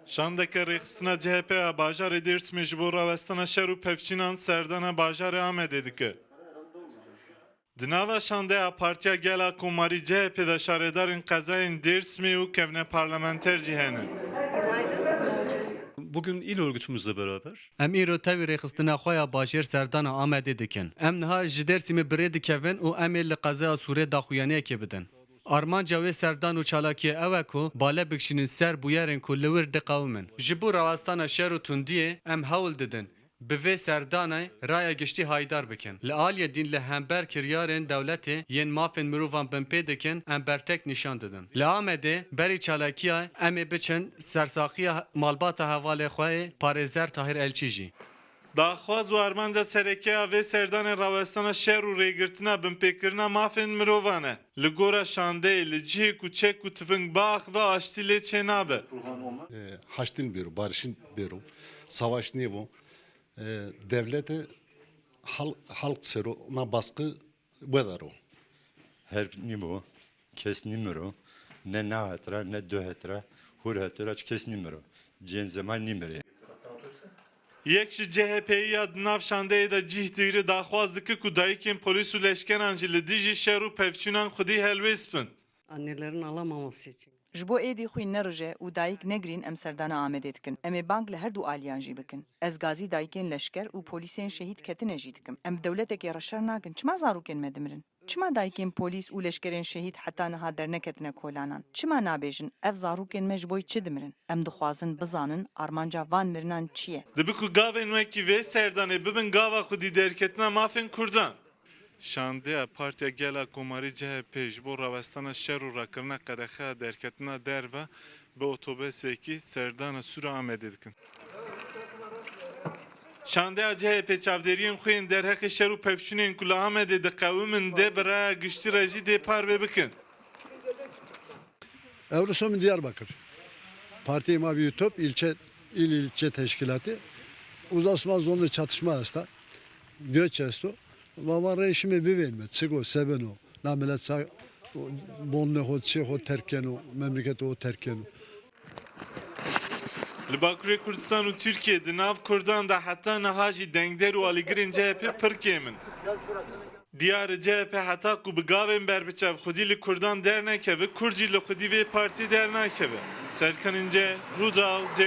Şandeke rêxistina CHP ya bajarê Dêrsimê ji bo rawestina şer û pevçînan serdana bajarê Amedê dike. Di nava şandeya Partiya Gela Komarî CHP'ê de şaredarên qezayên Dêrsimê û kevne parlamenter jî hene. Em îro tevî rêxistina xwe ya bajêr serdana Amedê dikin. Em niha ji Dêrsimê bi rê dikevin û em ê li qezaya Sûrê daxuyaniyekê bidin. Armanca wê serdan û çalakiyê ew e ku bale bikişînin ser bûyerên ku li wir diqewimin. Ji bo rawestana şer û tundiyê em hewl didin bi vê serdanê raya giştî hayîdar bikin. Li aliyê din li hember kiryarên dewletê yên mafên mirovan binpê dikin em bertek nîşan didin. Li Amedê berî çalakiya Em ê biçin ser saxiya malbata hevalê xwe yê parêzer Tahîr Elçî jî Daxwaz û armanca sereke ya vê serdanê rawestana şer û rêgirtina binpêkirina mafên mirovan e. Li gora şandeyê, li cihê ku çek û tifing biaxive aştî lê çênabe. Haştin bêro, barişin bêro, savaş nêbo. Dewlete halk sero na baskı Weather o. Herb nîbo, kes nîmiro, ne na het ra, ne du het ra, hûr heto ra çi kes nîmiro. Cihên zeman nîmirê. Yek ji CHP'yî ya di nav şandeyê de cîh digri daxwaz dike ku dayikên polîs û leşkeran jî li dijî şer û pevçûnan xwedî helwêst bin. Annelerin ala mamosê çi. Ji bo êdî xwîn nerije û dayik negrîn em serdana Amedê dikin. Em ê bang li herdû aliyan jî bikin. Ez gazî dayikên leşker û polîsên şehîd ketine jî dikim. Em bi dewletekê re şer nakin. Çima zarokên me dimirin? Çima dayikên polîs û leşkerên şehîd heta niha derneketine kolanan? Çima nabêjin ev zarokên me ji bo çi dimirin? Em dixwazin bizanin armanca van mirinan çi ye? Dibe ku gavên wekî vê serdanê bibin gava xwedî derketina mafên kurdan. Şandeya Partiya Gela Komarî CHP ji bo rawestana şer û rakirina qedexeya derketina derve bi otobesekî serdana Sûra Amedê dikin. Şandeya CHP çavdêriyên xwe yên derheqê şer û pevçûnên ku li Amedê diqewimin dê bi raya giştî re jî dê parve bikin. Ewrosom in Diyarbakır, Partiyê ma bi Yutop il il ilçe teşkîlatê, Uzasma zonê çatışma esta. Göç esto. Vava rê şımê bivên me çıgo sebeno. Na milet ça bonne xo çê xo terk keno, memleketê xo terk keno. Li Bakurê Kurdistan û Tirkiyê di nav Kurdan de heta niha jî dengder û alîgirên CHP pir kêm in. Diyar e CHP heta ku bi gavên berbiçav xwedî li Kurdan dernekeve, Kurd jî li xwedî vê partiyê dernakeve. Serkanên ceh, Rûdaw, Dêrsim.